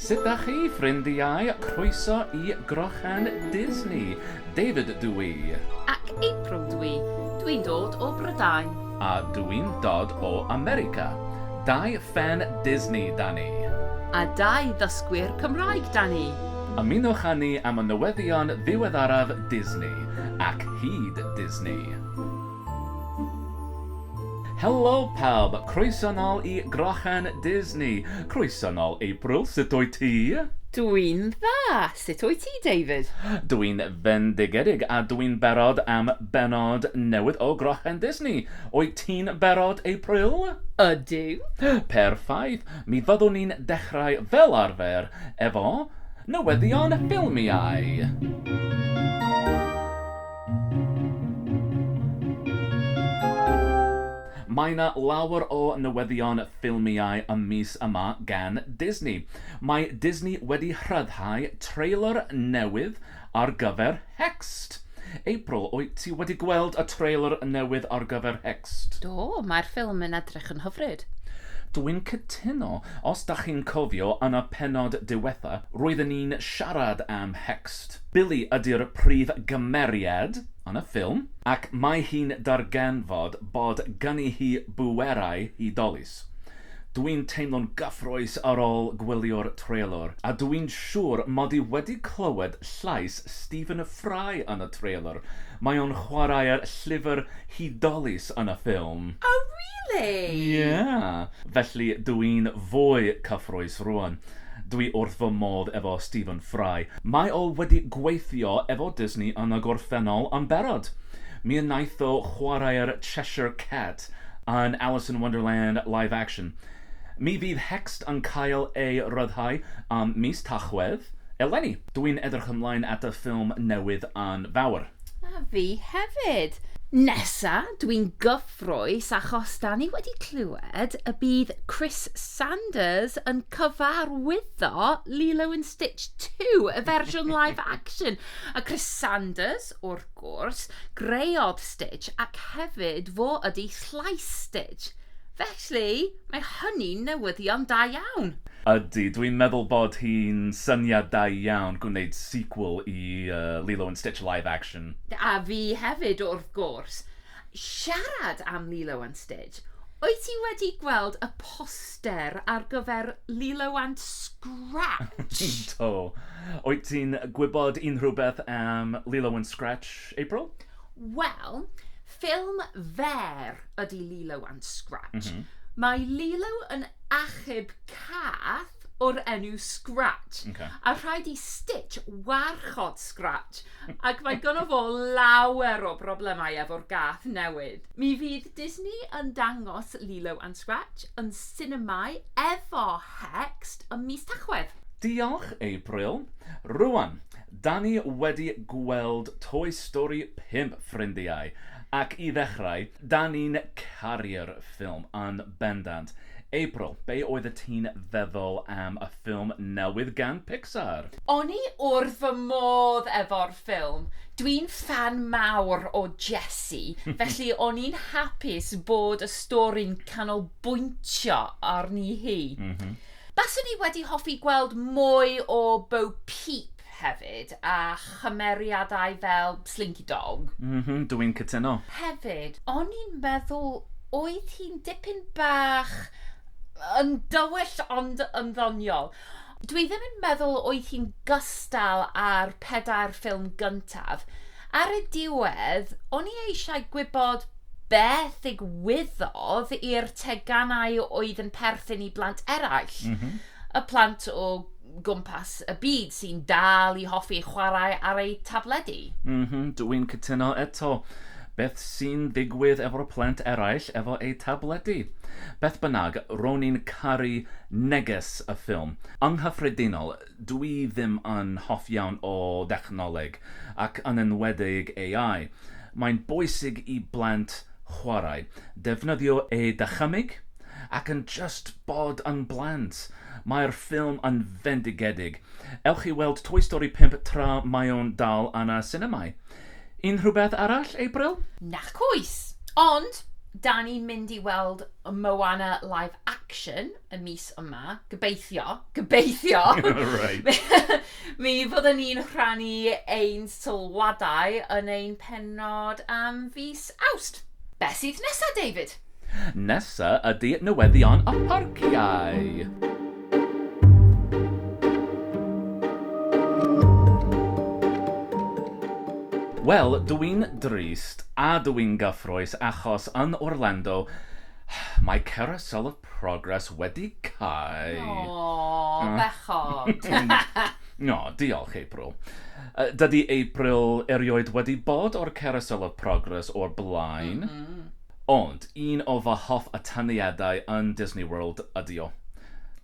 Sut dach chi ffrindiau? Croeso i Grochen Disney! David dw i. Ac April dw i. Dw i'n dod o Brydain. A dw i'n dod o America. Dau ffên Disney 'da ni. A dau ddysgwyr Cymraeg 'da ni. Ymunwch â ni am y newyddion ddiweddaraf Disney, ac hyd Disney. Helo pawb, croeso nol i Grochan Disney. Croeso nol April, sut wyt ti? Dw i'n dda, sut wyt ti David? Dw i'n fendigedig a dw i'n barod am bennod newydd o Grochan Disney. Wyt ti'n barod April? Ydw. Perffaith, mi fyddwn ni'n dechrau fel arfer efo newyddion ffilmiau. Mae 'na lawer o newyddion ffilmiau y mis yma gan Disney. Mae Disney wedi rhyddhau trailer newydd ar gyfer Hexed. April, wyt ti wedi gweld y trailer newydd ar gyfer Hexed? Do, mae'r ffilm yn edrych yn hyfryd. Dw i'n cytuno. Os 'da chi'n cofio, yn y pennod diwetha', roedden ni'n siarad am Hexed. Billy ydy'r prif gymeriad yn y ffilm ac mae hi'n darganfod bod gynni hi bwerau hudolus. Dwi'n teimlo'n gyffrous ar ôl gwylio'r trêlwr, a dwi'n siŵr mod i wedi clywed llais Stephen Fry yn y trêlwr, mae o'n chwarae'r llyfr hudolus yn y ffilm. Oh really? Ie, felly dw i'n fwy cyffrous rŵan. Dw i wrth fy modd efo Stephen Fry. Mae o wedi gweithio efo Disney yn y gorffennol yn barod. Mi wnaeth o chwarae'r Cheshire Cat yn Alice in Wonderland live action. Mi fydd Hext yn cael ei ryddhau ym mis Tachwedd eleni. Dw i'n edrych ymlaen at y ffilm newydd yn fawr. A fi hefyd! Nesa, dw i'n gyffrous achos 'da ni wedi clywed y bydd Chris Sanders yn cyfarwyddo Lilo and Stitch 2, y fersiwn live action. A Chris Sanders, wrth gwrs, greodd Stitch ac hefyd fo ydy llais Stitch. Felly, mae hynny'n newyddion da iawn. Ydy, dwi'n meddwl bod hi'n syniad da iawn gwneud sequel i Lilo and Stitch live action. A fi hefyd, wrth gwrs. Siarad am Lilo and Stitch, wyt ti wedi gweld y poster ar gyfer Lilo and Scratch? Do. Wyt ti'n gwybod unrhyw beth am Lilo and Scratch, April? Wel, ffilm fer ydy Lilo and Scratch. Mae Lilo yn achub cath o'r enw Scratch, a rhaid i Stitch warchod Scratch Ac mae gynno fo lawer o broblemau efo'r gath newydd. Mi fydd Disney yn dangos Lilo and Scratch yn sinemâu efo Hext ym mis Tachwedd. Diolch, April. Rŵan, 'dan ni wedi gweld Toy Story 5, ffrindiau, ac i ddechrau, Dan ni'n caru'r ffilm yn bendant. April, be oedd y ti'n feddwl am y ffilm newydd gan Pixar? O'n i wrth fy modd efo'r ffilm. Dwi'n ffan mawr o Jessi, felly o'n i'n hapus bod y stori'n canolbwyntio arni hi. Baswn i wedi hoffi gweld mwy o Bo Peep hefyd, a chymeriadau fel Slinky Dog. M-hm, dw i'n cytuno. Hefyd, o'n i'n meddwl oedd hi'n dipyn bach yn dywyll ond yn ddoniol. Dw i ddim yn meddwl oedd hi'n gystal â'r pedair ffilm gyntaf. Ar y diwedd, o'n i eisiau gwybod beth ddigwyddodd i'r teganau oedd yn perthyn i blant eraill. Y plant o gwmpas y byd sy'n dal i hoffi chwarae ar eu tabledi. M-hm, dw i'n cytuno eto. Beth sy'n digwydd efo'r plant eraill efo eu tabledi? Beth bynnag, ro'n i'n caru neges y ffilm. Yng nghyffredinol, dw i ddim yn hoff iawn o ddechnoleg, ac yn enwedig AI. Mae'n bwysig i blant chwarae, defnyddio eu dychymyg, ac yn jyst bod yn blant. Mae'r ffilm yn fendigedig. Ewch i weld Toy Story 5 tra mae o'n dal yn y sinemâu. Unrhyw beth arall, April? Nac oes! Ond, 'dan ni'n mynd i weld Moana live action y mis yma, gobeithio, gobeithio! Reit. Mi fyddwn ni'n rhannu ein sylwadau yn ein pennod am fis Awst. Beth sydd nesa, David? Nesa ydi newyddion a pharciau. Wel, dw i'n drist a dw i'n gyffrous achos yn Orlando mae Carousel of Progress wedi cau! Aww, bechod! O, diolch, April. Dydy April erioed wedi bod o'r Carousel of Progress o'r blaen. Ond un o fy hoff atyniadau yn Disney World ydi o.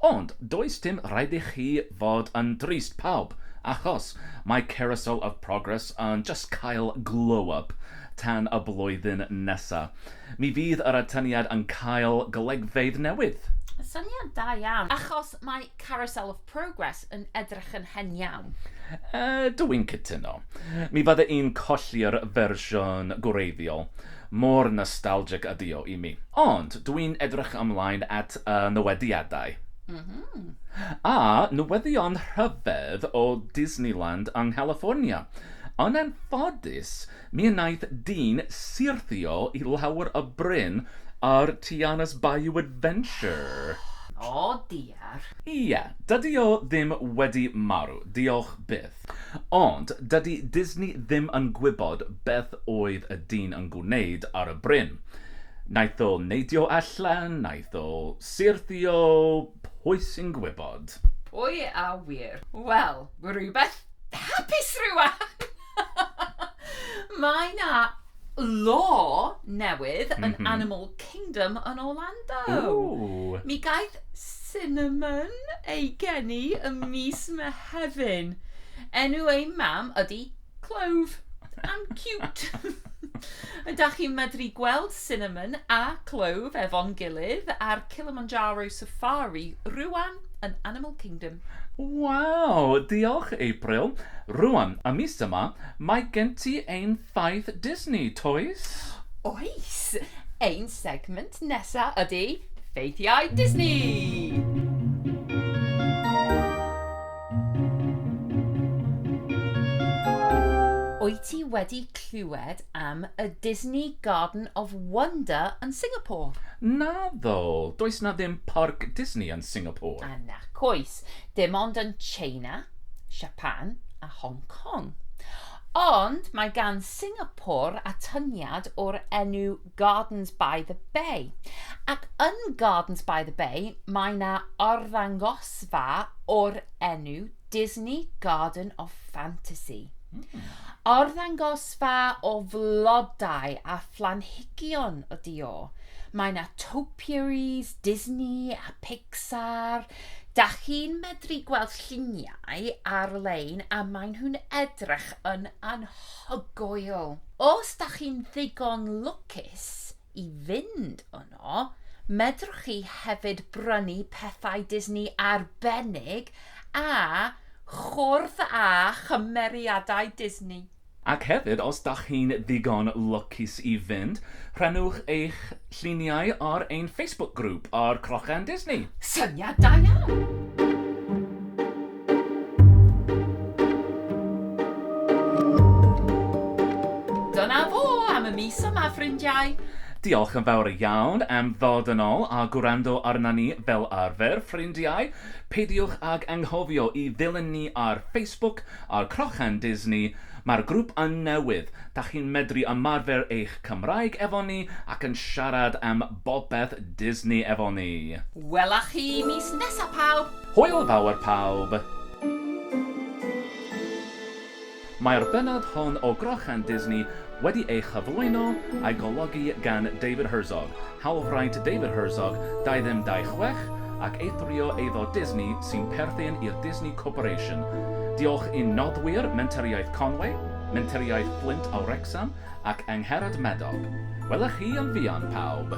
Ond does dim rhaid i chi fod yn drist, pawb, achos mae Carousel of Progress yn jyst cael glow up tan y blwyddyn nesa. Mi fydd yr atyniad yn cael golygfeydd newydd. Syniad da iawn, achos mae Carousel of Progress yn edrych yn hen iawn. Ydw i'n cytuno. Mi fydde i'n colli'r fersiwn gwreiddiol, mor nostalgic ydy o i mi. Ond dw i'n edrych ymlaen at y newediadau. A newyddion rhyfedd o Disneyland yng Nghaliffornia. Yn anffodus, mi wnaeth dyn syrthio i lawr y bryn ar Tiana's Bayou Adventure. O dear. Pupur. Ie, dydy o ddim wedi marw, diolch byth. Ond dydy Disney ddim yn gwybod beth oedd y dyn yn gwneud ar y bryn. Naeth o neidio allan, naeth o syrthio, pwy sy'n gwybod? Pwy a ŵyr? Wel, rhywbeth hapus rŵan! Mae 'na law newydd yn Animal Kingdom yn Orlando. Ww! Mi gaeth Cinnamon ei geni ym mis Mehefin. Enw ei mam ydy Clove. Am ciwt! Ydach chi'n medru gweld Cinnamon a Clove efo'n gilydd ar Kilimanjaro Safari rŵan yn Animal Kingdom. Waw! Diolch, April. Rŵan, y mis yma, mae gen ti ein Ffaith Disney, toes? Oes! Ein segment nesa ydy Ffeithiau Disney! Wyt ti wedi clywed am y Disney Garden of Wonder yn Singapore? Naddo! Does 'na ddim Parc Disney yn Singapore. A nac oes. Dim ond yn Tsieina, Siapan a Hong Kong. Ond mae gan Singapore atyniad o'r enw Gardens by the Bay. Ac yn Gardens by the Bay mae 'na arddangosfa o'r enw Disney Garden of Fantasy. Arddangosfa o flodau a phlanhigion ydi o. Mae 'na topiaries Disney a Pixar, Dach chi'n medru gweld lluniau ar-lein a maen nhw'n edrych yn anhygoel. Os dach chi'n ddigon lwcus i fynd yno, medrwch chi hefyd brynu pethau Disney arbennig a chwrdd â chymeriadau Disney. Ac hefyd, os dach chi'n ddigon lwcus i fynd, rhannwch eich lluniau ar ein Facebook grŵp ar Crochen Disney! Syniad da iawn! Dyna fo am y mis yma, ffrindiau! Diolch yn fawr iawn am ddod yn ôl a gwrando arna ni fel arfer, ffrindiau! Peidiwch ag anghofio i ddilyn ni ar Facebook, Ar Crochan Disney, mae'r grŵp yn newydd, dach chi'n medru ymarfer eich Cymraeg efo ni ac yn siarad am bopeth Disney efo ni! Wela chi mis nesa pawb! Hwyl fawr pawb! Mae'r bennod hon o Grochan Disney wedi ei chyflwyno a'i golygu gan David Herzog, Hawlfraint David Herzog, 2226, ac eithrio eiddo Disney sy'n perthyn i'r Disney Corporation. Diolch i'n noddwyr Mentoriaeth Conway, Mentoriaeth Fflint a Wrecsam ac Angharad Madog. Wela chi yn fuan, pawb!